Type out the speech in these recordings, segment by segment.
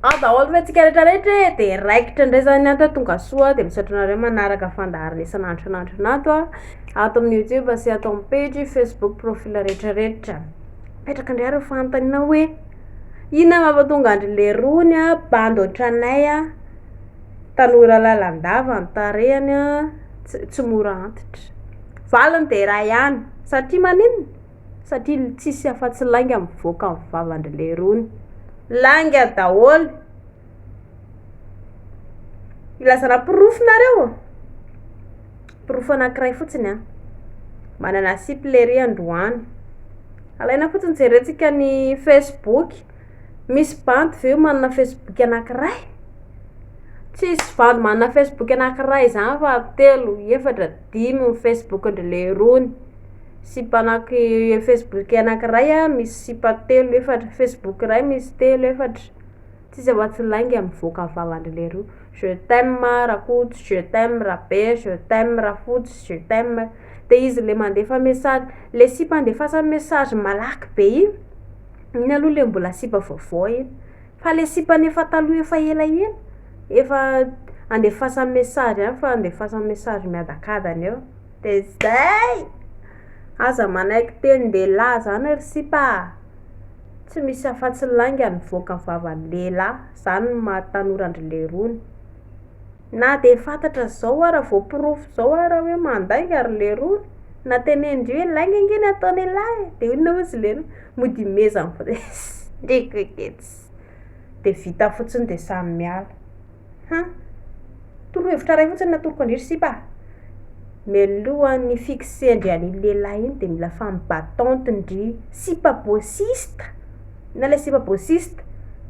Aza ahoako ve antsika rehetra rehetra e de raikitra indray zany ato a tonga soa de misaotra anareo manaraka fandaharana isan'andro isan'andro anato a ato amin'ny youtube sy ato amin'ny page facebook profil rehetra rehetra petraka indray areo fanontaniana hoe inona mampatonga andry lerony a bandy ohatranay a tanora lalandava ny tarehany a tsy mora antitra valiny de iray ihany satria maninona Satria ny tsisy afatsy lainga mivoaka am vavandry lerony. Lainga daholo. Ilazana porofo nareo? Porofo anakiray fotsiny an. Manana sipy lery androany. Alaina fotsiny jerentsika ny Facebook. Misy bandy ve manana Facebook anakiray? Tsisy bandy manana Facebook anakiray zany fa telo, efatra, dimy ny Facebook ndry lerony. Sipa anaky facebook anankiray a misy sipa telo efatra facebook iray misy telo efatra tsisy afa tsy lainga mivoaka ny vavandry leroa je t'aime rakoto je t'aime rabe je t'aime rafotsy je t'aime de izy le mandefa message le sipa andefasany message malaky be iny iny aloha le mbola sipa vaovao iny fa le sipa efa taloha efa elaela efa andefasany message ihany fa andefasany message miadakadany eo De zay! Aza manaiky tenin-dehilahy zany ry sipa a! Tsy misy afa-tsy lainga mivoaka ny vavan'ny lehilahy, zany no maha tanora an-dry lerony! Na de fantatra zao ara vao porofo zao ara hoe mandainga ry lerony, na tenenindry hoe lainga ange ny ataon'ilahy e! De inona hozy lerony? Mody imezany fotsiny, ndreko eketsy! De vita fotsiny de samy miala! Ha! Torohevitra iray fotsiny no atoroko an-dry sipa a! Mialohan'ny hi-fixer-ndry an'iny lehilahy iny dia mila femme battante ndry sipa bôsista na ilay sipa bôsista,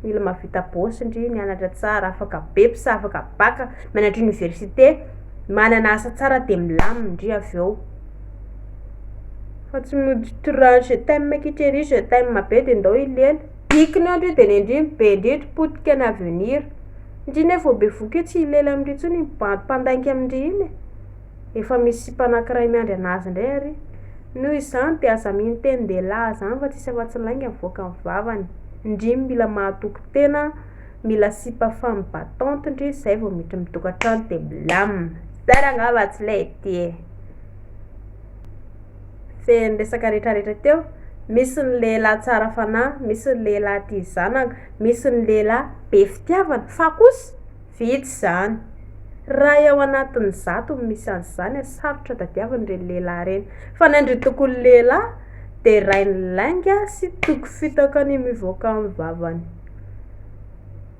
mila mahavita bôsy ndry, nianatra tsara, afaka beps, afaka bac, mianatra oniversite, manana asa tsara dia milamina ndry avy eo. Fa tsy mody tra- je t'aime kitra ery, je t'aime be dia ndao hilely. Diky ny andro io dia nendriny be indrindra potika ny avenir. Ndry ny efa bevoka io tsy hilely amindry intsony iny bandy mpandainga amindry iny e! Efa misy sipa anankiray miandry anazy ndray ary. Noho izany dia aza mino teny ndehilahy zany fa tsisy afatsy lainga mivoaka ny vavany. Ndry mila mahatoky tena, mila sipa femme battante ndry zay vao miditra am tokatrano dia milamina. Zany angamba tsy lety e! Feno resaka retraretra teo, misy ny lehilahy tsara fanahy, misy ny lehilahy tia zanaka, misy ny lehilahy be fitiavana, fa kosa vitsy izany. Raha eo anatin'ny zato no misy an'izany, sarotra tadiavina ireny lehilahy ireny. Fa ny andry tokoly lehilahy dia rain'ny lainga sy toky fitaka ny mivoaka amin'ny vavany.